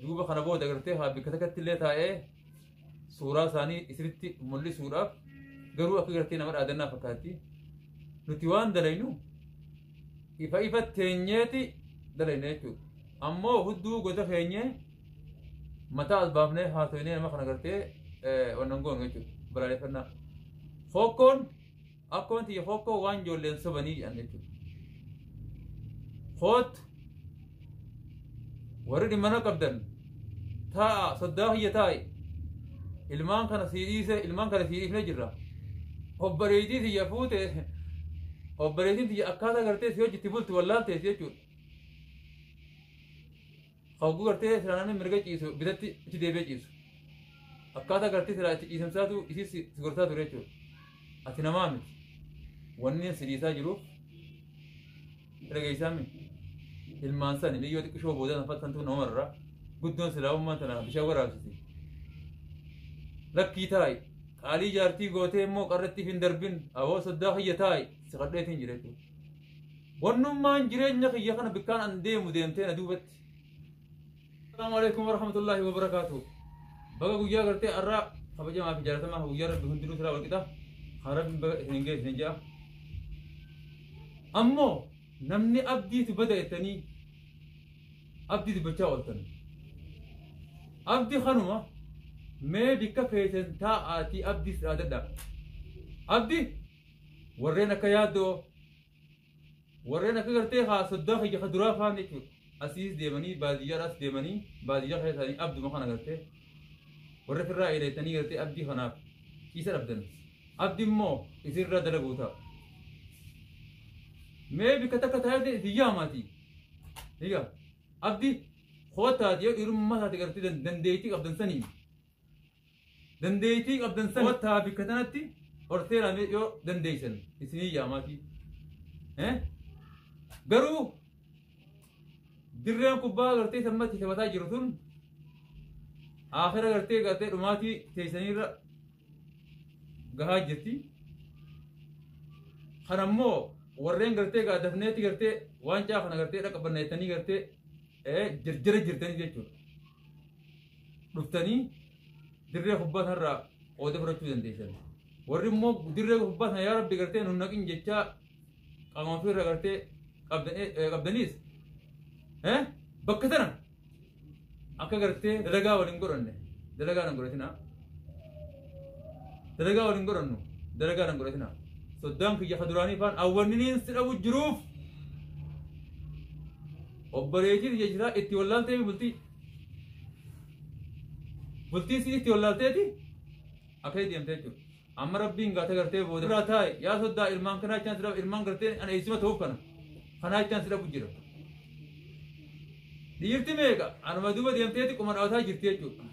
duuba kana booda agartee haa bikka takkatti illee taa'ee suuraa isaanii isinitti mul'isuudhaaf garuu akka gartee nama dhaadannaa fakkaatti nuti waan dalaynu ifa ifa teenyeeti dalayna jechuudha ammoo hudduu gosa keenyee mataa as baafnee haasofnee nama kana gartee wannan goonu jechuudha balaaleffannaa fokkoon akkuma tiyya hokkoo waan ijoolleen sobanii jedhan jechuudha. Koottu warri dhimmana qabdan taa'a soddaa kiyya taa'i ilmaan kana sii dhiise ilmaan kana sii dhiifne jirra. Obboleettii tiyya fuute obboleettiin tiyya akkaataa gartee si hojjetti bulti wallaaltees jechuudha. Hogguu gartee silaa namni mirga ciisu bitatti itti deebi'ee ciisu. Akkaataa gartee silaa itti ciisamsaatu isis si gorsaa ture jechuudha. Ati namaa miti. Wanni si dhiisaa jiruuf dhageessaa miti. Ilmaan sani biyyoo xiqqishoo booda san fattantuu namarraa guddoon silaa ummaan tana bishaan waraabsiti. Lakkii taa'i. Qaalii jaartii gootee immoo qarratti hin darbin. Awoo soddaa kiyya taa'i. Si kadheetiin jira jechuudha. Wannummaan jireenya kiyya kana bikkaan an deemu deemtee na duubatti. Assalamu alaikum warahmatullahi wabarakatuh. Baga guyyaa gartee arraa kabajamaa fi jaalatamaa kan guyyaa rabbi hundinuu siraa walqixa. Kan rabbi baga isin ga'e isin ja'a. Ammoo namni abdiitu bada jettanii abdii dubbachaa ooltan. Abdi kanuma mee bikka keessan taa'aatii abdiis dhaadadha. Abdi warreen akka yaaddoo warreen akka gartee haa soddaa kiyya ka duraa faan jechuudha. Asiis deemanii baadiyyaadhaas deemanii baadiyyaa keessanii abduma kana gartee warra firraa eedeessanii gartee abdii kanaaf isa dhabdan. Abdi immoo isinirraa dalaguu ta'a. Mee bikka takka taa'ee isin yaamaati. Egaa abdi kootaati yoo dhiirummaa taate gartee dandeettii qabdan saniin. Dandeettii qabdan san kottaa bikka tanatti horteera mee yoo dandeessan isinii yaamaatii. Eh? Garuu dirreen kubbaa gartee sammatti taphataa jiru tun aakira gartee gartee dhumaatii teessaniirra gahaa jirti. Kan ammoo warreen gartee gaa dafneetti gartee waancaa kana gartee dhaqabanna jettanii gartee eh, jirjira jirtanii jechuudha. dhuftanii dirree kubbaa sanarraa qooda fudhachuu dandeessan. Warri immoo dirree kubbaa sana yaa rabbi gartee nu naqin jechaa qaama ofiirra gartee qabdan- eh, qabdaniis eh, bakka sana akka gartee dalagaa waliin godhanne dalagaa nan godhatinaa. Dalagaa waliin godhannu dalagaa nan godhatinaa. Soddaan kiyya ka duraanii faan awwanniniin si dhabu jiruuf obboleettiin jechaa itti wallaaltee bultii. Bultiin si itti wallaalteeti akka itti deemte jechuudha. Amma rabbiin gaata gartee booda irraa taa'e yaa soddaa ilmaan kanaa jechaan sirra ilmaan gartee ana eessima ta'uuf kana kanaa jechaan sirra bujjira. Dhiirti meeqa anuma duuba deemteeti quma dhaabataa jirti jechuudha.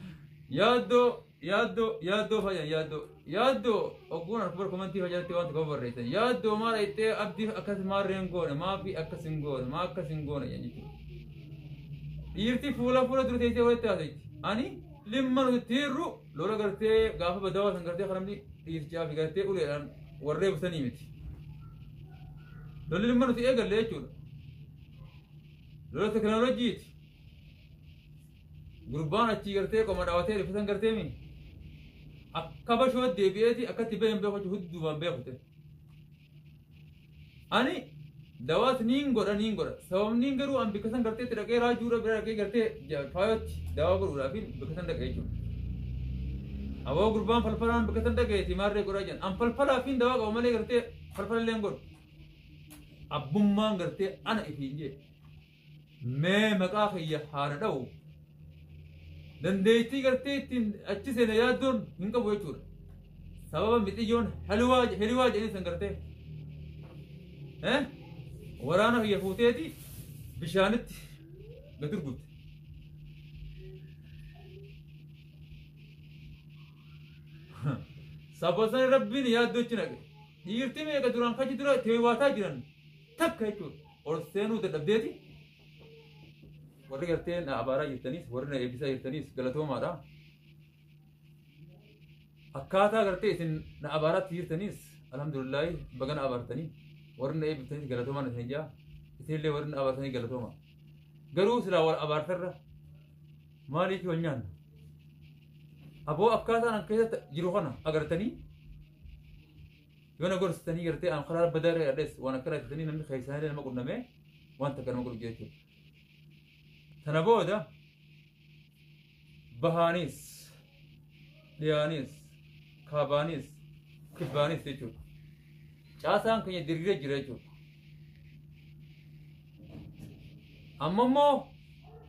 Yaaddoo Yaaddoo yaaddoo fayyaan yaaddoo yaaddoo ogguun harkubar komantii fayyadatti waan tokko barreessan yaaddoo maal ittee abdii akkas maarreen goone maafi akkas hin goone maa akkas hin goone jedhan jechuudha. Dhiirti fuula fuula dura teessee walitti haasa'etti ani limma nuti tiirru lola gartee gaafa badawaa san gartee kan namni dhiirchaa fi gartee uleedhaan warree busanii miti. Lolli limma nuti eegalle jechuudha. Lola tekinooloojiiti. Gurbaan achii gartee qoma dhawatee rifatan gartee mi akka bashoo deebi'eeti akkatti baheen beeku jechuun huddumaan beeku ta'e. Ani dawaas niin godha niin godha sababniin garuu an bikka san gartee itti dhaqee raajuudha bira dhaqee gartee ja- faayootti dawaa godhuudhaaf bikka san dhaqee jechuudha. Aboo gurbaan falfalaan bikka san dhaqeeti maarree godhaa jiran an falfalaa fi dawaa qaba malee gartee falfalallee hin godhu. Abbummaan gartee ana ifiin jee Mee maqaa kiyya haana dha'u. Dandeettii gartee ittiin achi seena yaaddoon hin qabu jechuudha. Sababa mixiyyoon haliwaa hiriwaa jedhanii san gartee. Eh? Waraana kiyya fuuteeti bishaanitti gad gurgurte. Sababa sana rabbiin yaaddoo achi naqe. Dhiirti meeqa duraan kachi dura teewwaataa jiran. takka jechuun ol seenuu dadhabdeeti. Warri gartee na abaaraa jirtanis warri na eebbisaa jirtanis galatoomaadha. Akkaataa gartee isin na abaaraatti jirtanis alhamdulillaahi baga na abaartanii warri na eebbiftanis galatoomaan isin jaa isinillee warri na abaartanii galatooma. Garuu silaa wal abaartarra maaliif wal nyaanna? Aboo akkaataan an keessatti jiru kana agartanii Yoo na gorsitanii gartee an karaa badaa irra hidhadhes waan akkana jettanii namni keessaan illee nama qunnamee waan takka nama godhu jechuudha. Tana booda bahaanis dhiyaanis kaabaanis kibbaanis jechuudha. Caasaan keenya diriiree jira jechuudha. Amma immoo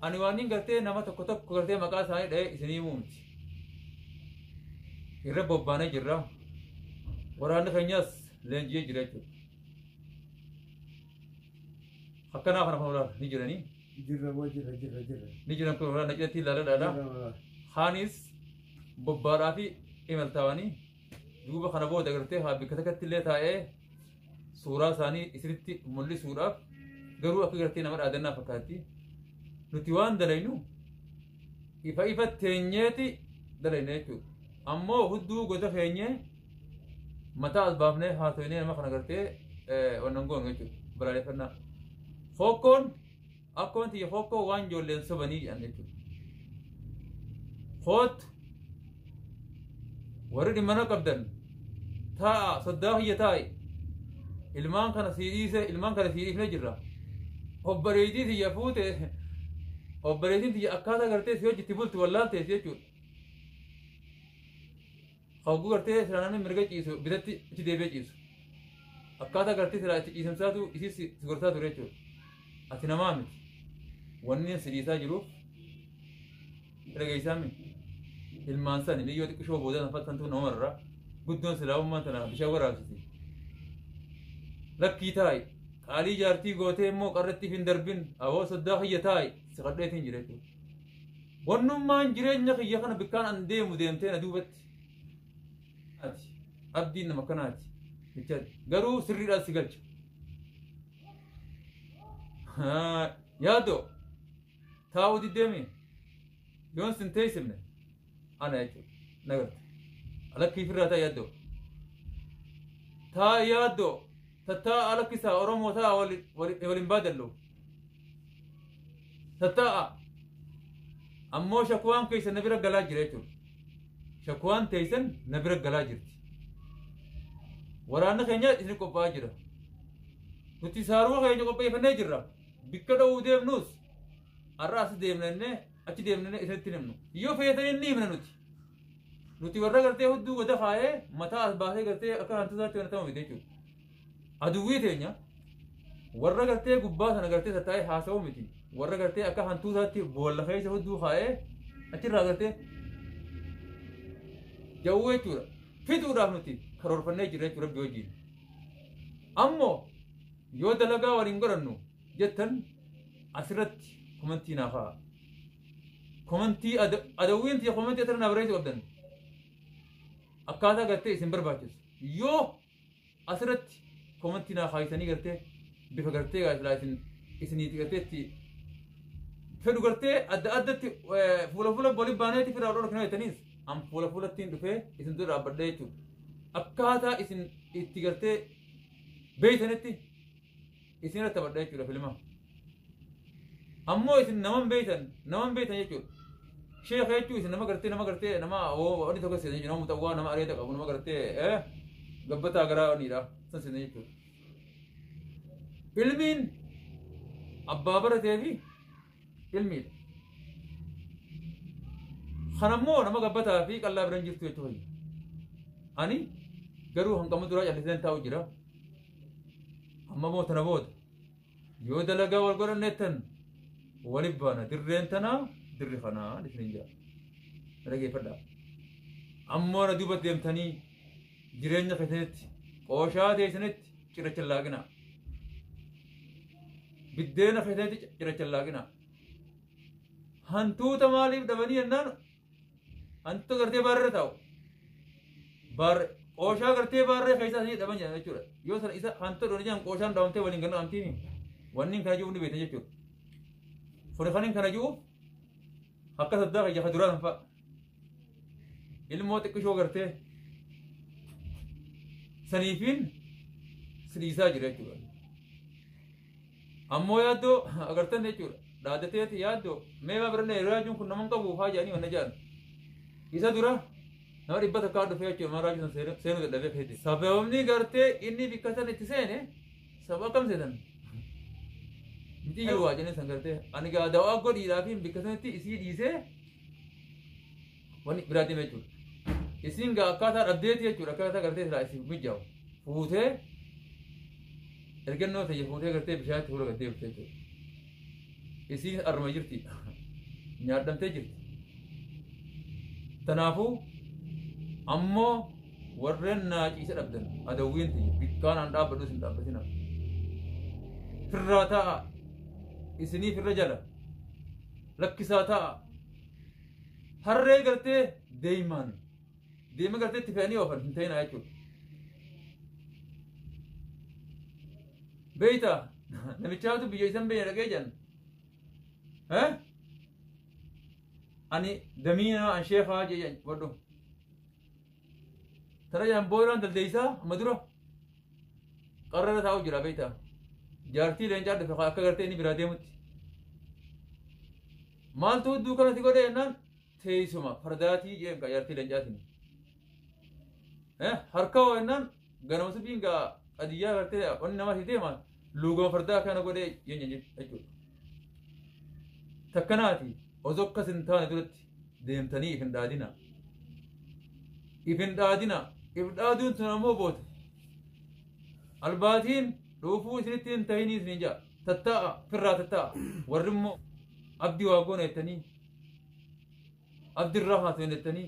ani waan hin gartee nama tokko tokko gartee maqaa isaanii dha'ee isinii muumti. Irra bobbaanee jirra. Waraanni keenyas leenji'ee jira jechuudha. Akkanaa kana kun waraana ni jiranii. Jirra moo jirra jirra jirra. Ni jiran kun waraana cidhatti ilaaladhaadha. Jirra moo. Kaanis bobbaadhaa fi imaltaawanii duuba kana booda agartee haa bikka takkatti illee taa'ee suuraa isaanii isinitti mul'isuudhaaf garuu akka gartee nama dhaadannaa fakkaatti nuti waan dalaynu ifa ifa teenyeeti dalayna jechuudha ammoo hudduu gosa keenyee mataa as baafnee haasofnee nama kana gartee wannan goonu jechuudha balaaleffannaa fookkoon Akkuma tiyya kokkoo waan ijoolleen sobanii jedhan jechuudha. Koottu warri dhimmana qabdan taa'a soddaa kiyya taa'i ilmaan kana sii dhiise ilmaan kana sii dhiifne jirra. Obboleettii tiyya fuute obboleettiin tiyya akkaataa gartee si hojjetti bulti wallaaltees jechuudha. Hogguu gartee silaa namni mirga ciisu bitatti itti deebi'ee ciisu. Akkaataa gartee silaa itti ciisamsaatu isis si gorsaa ture jechuudha. Ati namaa miti. Wanni si dhiisaa jiruuf dhageessaa miti. Ilmaan sani biyyoo xiqqishoo boodaa san fattantuu nama irraa guddoon silaa ummaan tana bishaan waraabsiti. Lakkii taa'i. Qaalii jaartii gootee immoo qarrattiif hin darbin. Aboo soddaa kiyya taa'i. Si kadheetiin jira jechuudha. Wannummaan jireenya kiyya kana bikkaan an deemu deemtee na duubatti. Ati abdiin nama kanaati. Jechaati. Garuu sirriidhaan si galcha. Yaadoo taa'uu diddeemi. Yoon sin teessifne. ana jechuudha nagarta alakkii firraa taa yaaddoo taa yaaddoo tattaa alakkisaa oromoo taa wali wali waliin baadallu tattaa'a ammoo shakuwaan keessa na bira galaa jira jechuudha shakuwaan teessan na bira galaa jirti waraanni keenya isin qophaa'aa jira nuti saaruu keenya qopheeffannee jirra bikka dha'uu deemnus har'a as deemnannee achi deemnee isatti himnu yoo fayyatan inni himna nuti nuti warra gartee hudduu goda faayee mataa as baasee gartee akka hantuutaatti wanatama miti jechuudha aduwwii teenya warra gartee gubbaa sana gartee sataa'ee haasa'uu miti warra gartee akka hantuutaatti boolla keessa hudduu kaa'ee achirraa gartee jawwuu jechuudha fiduudhaaf nuti karoorfannee jirra jechuudha rabbi wajjin ammoo yoo dalagaa waliin godhannu jettan asirratti komantii naaf haa komantii ada- adawwiin tiyya komantii asirra naa barreessuu qabdan akkaataa gartee isin barbaachisu yoo asirratti komantii naa kaayisanii gartee bifa gartee gaasilaa isin isiniiti gartee itti fedhu gartee adda addatti eh, fuula fuula waliin baaneeti firaa dhorkina jettaniis an fuula fuulattiin dhufee isin dura dhaabbadha jechuudha akkaataa isin itti gartee beeytanitti isin irratti taphadha jechuudha filma ammoo isin naman beeytan naman beeytan jechuudha sheekha jechuun isin nama gartee nama gartee nama wani tokko seenee jechuudha nama muxawwaa nama areeda qabu nama gartee eh gabbataa garaa waniidha san seenee jechuudha filmiin abbaa baratee fi ilmiidha. Kanammoo nama gabbataa fi qal'aa biran jirtu jechuu fayya. Ani garuu hanqamuu duraa calliseen taa'u jira. Amma moo tana booda yoo dalagaa wal godhanneettan waliif baana dirreen tanaa dirri kanaa isiniin jira. Na dhageeffadhaa. Ammoo na duuba deemtanii jireenya keessanitti qooshaa teessanitti cirracha laaqinaa. Biddeena keessatti cirachan laaqina. Hantuuta maaliif dhabanii jennaan hantuuta gartee baarra taa'u. Baarra qooshaa gartee baarree keessaa sanii dhaban jedhan jechuudha. Yoo sana isa hantuuta dhooni jedhan qooshaan dhabamtee waliin ganna amtiin wanni kana jiru ni beekna jechuudha. Furi kanin kana jiru akka saddaa keessa ka duraa sanfaa. ilmoo xiqqishoo gartee saniifiin siriisaa jira jechuudha. Ammoo yaaddoo agartan jechuudha. Dhaadateeti yaaddoo mee baa birallee yeroo yaaduun kun naman qabu haa jedhanii wanna jedhan. Isa dura nama dhibba takkaa dhufee jechuudha mana raajii sana seenuu dadhabee keetti. Sababni gartee inni bikka sana itti seene sababa akkam seetan? Miti yoo waa jennee san gartee ani gaa dawaa godhiidhaa fi bikka sanatti isii dhiisee Wani biraa deema jechuudha. Isin gaa akkaataa dhabdeeti jechuudha akkaataa gartee silaa isin mijaa'u. Fuutee ergannoo ta'e fuutee gartee bishaanitti fuula gad deebite jechuudha. Isiin arma jirti. Nyaadhamtee jirti. Kanaafuu ammoo warreen naa ciise dhabdan adawwiin ta'e bikkaan aan dhaabbadhu isin dhaabbatina. Firraa ta'a isiniif irra jala rakkisaa ta'a. Harree gartee deemaan deema gartee itti fe'anii oofan hin ta'inaa jechuudha. Beeyta namichaatu biyya isan beeyna dhaqee jedhan. Eh? Ani damiinaa an sheekaa jedhan wadhu. Tara jaan booyiraan daldeessaa amma dura qarrara taa'u jira beektaa. Jaartii leencaa dhufe kan akka gartee inni biraa deemutti. Maaltu hudduu kanatti godhe jennaan teessuma fardaatii jeen kan jaartii leencaatiin. Harka hoo jennaan ganama subiin gaa qadiyyaa gartee wanni namaa si deemaan luugama fardaa akkana godhee jeen jechuudha. Takkanaati osoo akkas hin taane duratti. deemtanii if hin dhaadinaa if hin dhaadinaa if dhaaduun tun ammoo booda albaatiin dhuufuu isinitti hin tahinii isin ja'a tatta'a firraa tatta'a warri immoo abdi waa goona jettanii abdi irraa haasoo hin jettanii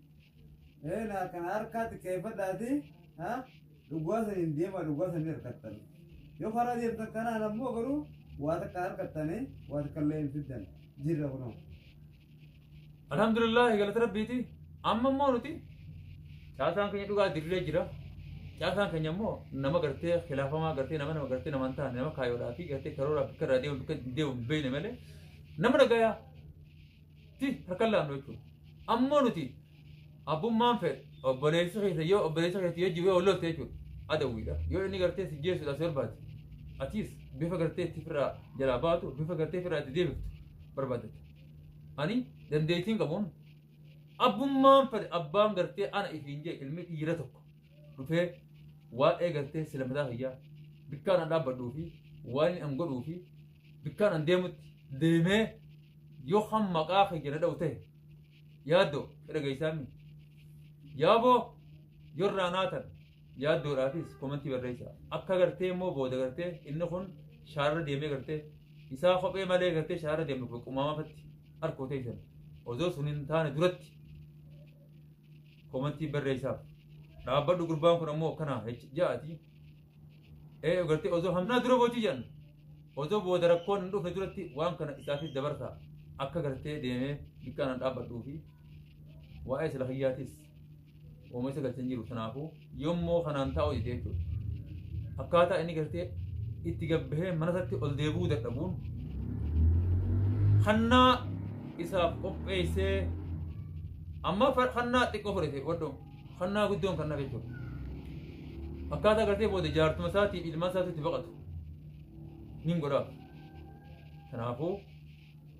Ee na kana harkaatti keeffadhaati ha dhugaa san hin deema dhugaa san hin harkattan. Yoo karaa deemtan kanaan ammoo garuu waa takka harkattanii waa takka illee hin fiddan jirra kunoo. Alhamdulillah galata rabbiiti. Amma immoo nuti caasaan keenya dhugaa dirree jira. Caasaan keenya immoo nama gartee khilaafamaa gartee nama nama gartee nama hin taane nama kaayoodhaa fi gartee karooraa bakka irraa deemu bakka hin deemu hin beekne malee nama dhagayaa ti harkan laannu jechuudha. Ammoo nuti abbummaan fedhe obboleessi keessa yoo obboleessa keessa yoo jiru yoo loltu jechuudha. Adawwiidha. Yoo inni gartee si jeesudha si barbaade. Atis bifa gartee itti firraa jalaa baatu bifa gartee firraa itti deebiftu barbaadata. Ani dandeettiin qabuun abbummaan fedhe abbaan gartee ana ifiin jee ilmi dhiira tokko. dhufee waa'ee gartee sila mataa kiyyaa bikkaan an dhaabbadhuu fi waan an godhuu fi bikkaan an deemutti deemee yoo kan maqaa kiyya na dha'u ta'e yaaddoo dhageessaami yaaboo yorraa naatan yaaddoodhaafis komantii barreessa akka gartee immoo booda gartee inni kun shaarra deemee gartee isaa kophee malee gartee shaarra deemnu qumaamafatti harkoo teessan osoo sun hin taane duratti komantii barreessaaf dhaabbadhu gurbaan kun ammoo akkanaa jecha ja'aati ee gartee osoo hamnaa dura booti jedhan osoo booda rakkoon hin dhufne duratti waan kana isaafis dabarsa akka gartee deemee bikkaan an dhaabbadhuu fi waa'ee sila kiyyaatis uuma isa galchan jiru kanaafuu Yommoo kanaan taa'uu dide jechuudha. Akkaataa inni gartee itti gabbahee mana isaatti ol deebi'uu dadhabuun hannaa isaaf qopheessee amma fa- hannaa xiqqoo fudhate wadhu hannaa guddoon kan nafe jechuudha. Akkaataa gartee booda jaartuma isaatii ilmaan isaatti itti baqatu nin godha. Kanaafuu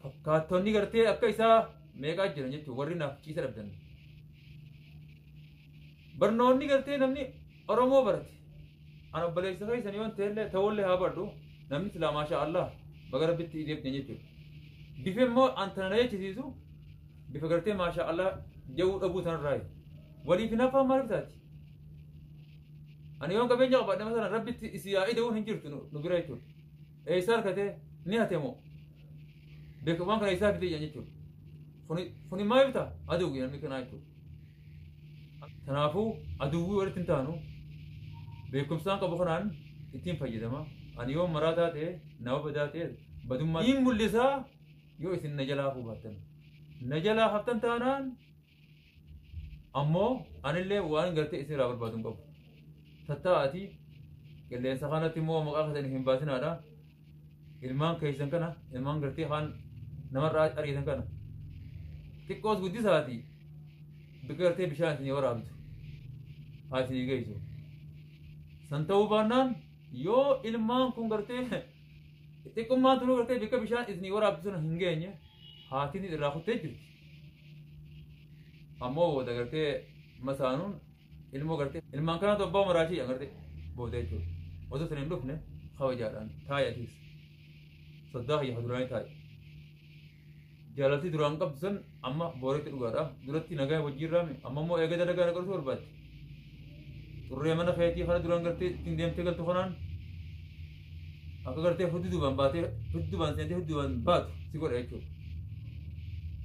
fakkaattonni gartee akka isaa meeqaa jiran jechuudha warri naaf ciisa dhabdan. Barnoonni gartee namni Oromoo barate an obboleessa keessan yoon ta'ellee ta'ullee haa baradhu namni silaa maashaa Allah baga rabbitti deebitee jechuudha. Bifa immoo an tana na jechisiisu bifa gartee maashaa Allah ja'uu dhabuu tanarraayi. Waliif hin hafaan maaliif taati? Ani yoon qabeenya qabaadhe masalan rabbitti isii haa ida'uun hin jirtu nu bira jechuudha. Eessaa argatee ni hate moo? Beekamaan kana eessaa fidee jechuudha. Kuni maaliif ta'a? Aduu namni kanaa jechuudha. Kanaafuu aduwwii walitti hin taanu beekumsaan qabu kanaan ittiin fayyadama. Ani yoo maraataa ta'e nama badaa ta'e badummaa hin mul'isaa yoo isin na jalaa hafuu baattan. Na jalaa haftan taanaan ammoo anillee waan gartee isin irraa barbaadu hin qabu. Tattaa'aati qilleensa kanatti immoo maqaa keessan hin baasinaadha. ilmaan keessan kana ilmaan gartee kaan namarraa ariitan kana xiqqoos guddisaati bakka gartee bishaan isinii waraabdu haa isinii geessu san ta'uu baannaan yoo ilmaan kun gartee xiqqummaan tunuu gartee bakka bishaan isinii waraabdu sana hin geenye haatiin irraa kuttee jirti ammoo booda gartee masaanuun ilmoo gartee ilmaan kanaatu abbaa umaraa shi'a gartee booda jechuudha osoo isin hin dhufne kabajaadhaan taa'i atiis soddaa kiyya duraanii taa'i jaalaltii duraan qabdu san amma booretti dhugaadha duratti nagaa wajjin raame amma immoo eega dalagaa na qoratu barbaadde xurree mana keetii kana duraan gartee ittiin deemtee galtu kanaan akka gartee hudduubaan baatee hudduubaan seentee hudduubaan baatu si godha jechuudha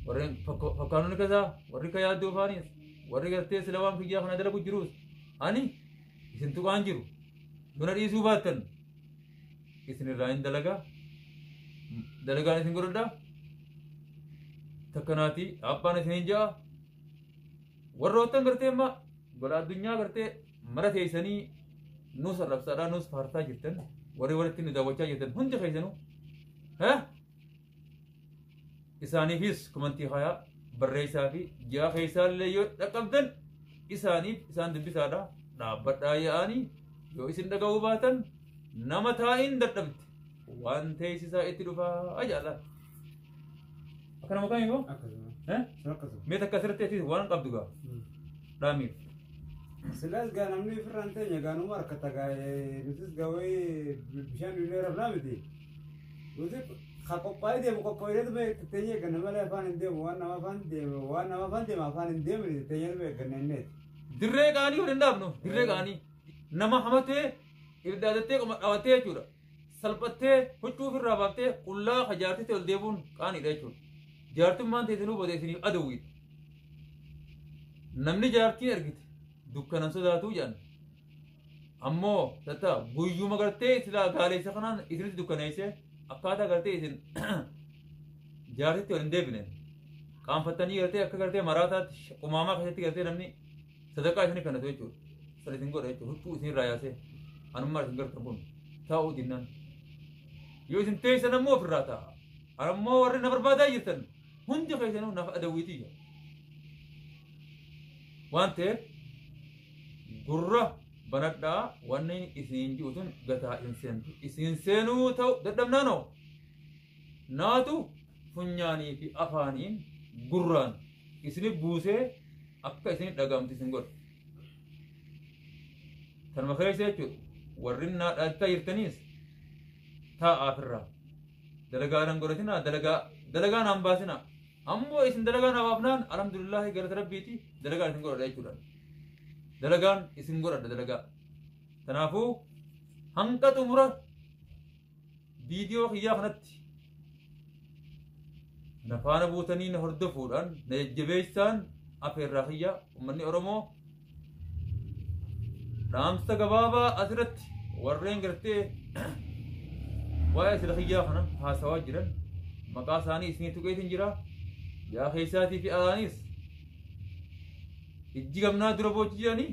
warreen fakkaanonni keessaa warri ka yaaddoo faaniis Warri gartee sila waan kiyyaa kana dalagu jiruus ani isin tuqaan jiru dura dhiisuu baattan isin irraa hin dalagaa dalagaan isin godhadha takkanaati abbaan isin hin ja'a warroottan gartee amma gola addunyaa gartee mara teessanii nuus arrabsaadhaa nuus faartaa jirtan warri walitti nu daawwachaa jirtan hundi keessanuu ha isaaniifis komantii kayaa barreessaa fi ji'a keessaallee yoo dhaqqabdan isaaniif isaan dubbisaadha dhaabbadhaa yaa'anii yoo isin dhaga'uu baatan nama taa'iin dadhabde waan teessisaa itti dhufaa ajaa'ala. Akkana maqaan yoo? akkasuma Eh? akkasuma Mee takka asirratti ati waan qabdu gaa dhaamiif. silaas gaa namni ofirraan teenya gaanuma harkata gaa nutis gaa wayii bishaan illee rafnaa miti Nuti ka qophaa'ee deemu qophaa'ee deemu teenya eegganna malee afaan hin deemu waan nama afaan deema waan nama afaan deema afaan hin deemne teenya nu eegganna inni. Dirree gaanii waliin dhaabnu dirree gaanii nama hamatee ibidda adattee qoma dhawattee jechuudha. Salphattee huccuu ofirraa baaftee qullaa ka jaartitti ol deemuun qaaniidha jechuudha. Jaartummaan teessinuu booda isiniif adawwiidha. Namni jaartii argite dukkanan sodaatuu jedhan. Ammoo tatta guyyuma gartee silaa gaaleessa kanaan isinitti dukkaneessee akkaataa gartee isin jaarsitti waliin deebine qaanfattanii gartee akka gartee maraataatti sh- qumaamaa keessatti gartee namni sadaqaa isinii kannatu jechuudha. Sana isin godha jechuudha. Huccuu isin irraa yaasee anummaa isin gartan kun taa'uu dinnaan. Yoo isin teessan ammoo ofirraa taa'a. Ammoo warri na barbaadaa jirtan hundi keessanuu naaf adawwiitii jira. Waan ta'eef gurra banadhaa wanni isin ji'u sun gataa hin seentu isin seenuu ta'u dadhabnaanoo naatu funyaanii fi afaaniin gurraan isini buusee akka isini dhagaamtu isin godhe tanuma keessa jechuudha warri naa dhaattaa jirtaniis taa'aa firraa dalagaa nan godhatinaa dalagaa dalagaa naan baasinaa Ammoo isin dalagaa naaf hafnaan alhamdulillahi galata rabbiiti dalagaan isin godhadha jechuudha. Dalagaan isin godhadha dalagaa. Kanaafuu hanga xumura viidiyoo kiyyaa kanatti na faana buutanii na hordofuudhaan na jajjabeessaan afeerraa kiyyaa uummanni Oromoo dhaamsa gabaabaa asirratti warreen gartee waa'ee sila kiyyaa kana haasawaa jiran maqaa isaanii isinii tuqeetiin jira yaa keessaatii fi alaaniis ijji gamnaa dura boochi jedhanii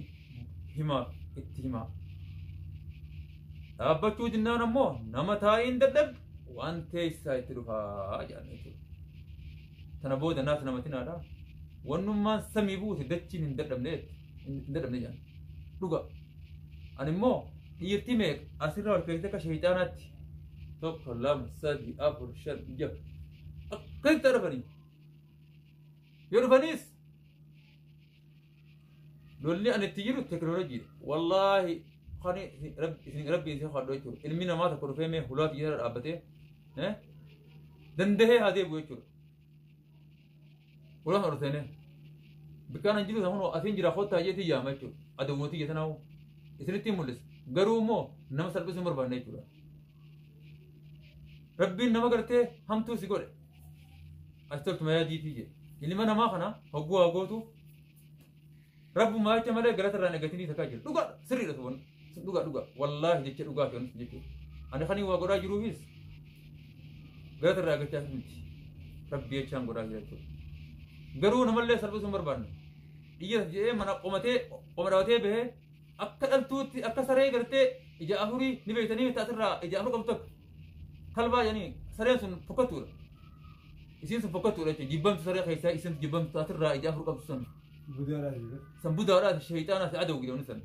himaa itti himaa dhaabbachuu dinnaan ammoo nama taa'iin dadhabdu waan teessaa itti dhufaa jedhan jechuudha. Tana booda naaf namatinaadha. Wannummaan samii buute dachiin hin dadhabne jette. Hin dadhabne jedhan. Dhuga. Ani immoo dhiirti meeqa asirra wal keessatti akka sheeyxaanaatti tokko lama sadii afur shan jaha akkasitti dhufanii. Yoo dhufaniis lolli ani itti jiru teknooloojiidha. Wallaahi kan isin rabbi isin kadhu jechuudha. Ilmi namaa tokko dhufee mee hulaa xiyyaara dhaabbatee eh, dandahee haa deebi'u jechuudha. Hulaan ol seenee bikkaan hin jiru sana kunoo asiin jira kottaa jeetii yaama jechuudha. Adawwootii jeetan hawwu isinitti hin mul'isa. Garuu immoo nama salphisuu hin barbaanne jechuudha. Rabbiin nama gartee hamtuu si godhe. Achirratti mayaa diitii jedhe. Ilma namaa kana hogguu haa gootuuf rabbumaa jecha malee galata irraa negatinii takkaa jira. Dhugaa sirriidha tuban. Dhugaa dhugaa wallaahi jecha dhugaa fi onis jechuudha. Ani kan waa godhaa jiruufis galata irraa gachaa miti. Rabbi jechaan godhaa jira jechuudha. Garuu namallee salphisuu hin barbaanne. Dhiyyees jedhee mana qomatee qoma dhabatee bahee akka dhaltuutti akka saree gartee ija afurii ni beektanii taasirraa ija afur qabdu takka. Talbaa jedhanii sareen sun fokkattuudha. Isiin sun fokkattuudha jechuudha. Jibbamtu saree keessaa isiin jibbamtu taatirraa ija afur qabdu sun. San budaadhaas sheeyxaanaas aduu jedhamu sun.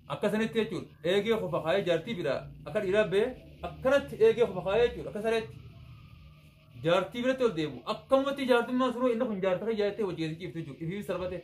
Akka sanitti jechuudha. Eegee kofa kaayee jaartii bira akka dhiiraa ba'ee akkanatti eegee kofa kaayee jechuudha. Akka sareetti. Jaartii biratti ol deebi'u. Akkamatti jaartummaan sunuu inni kun jaartii kan jaartee hojii keessa ciiftu jechuudha. Ifiifis salphatee.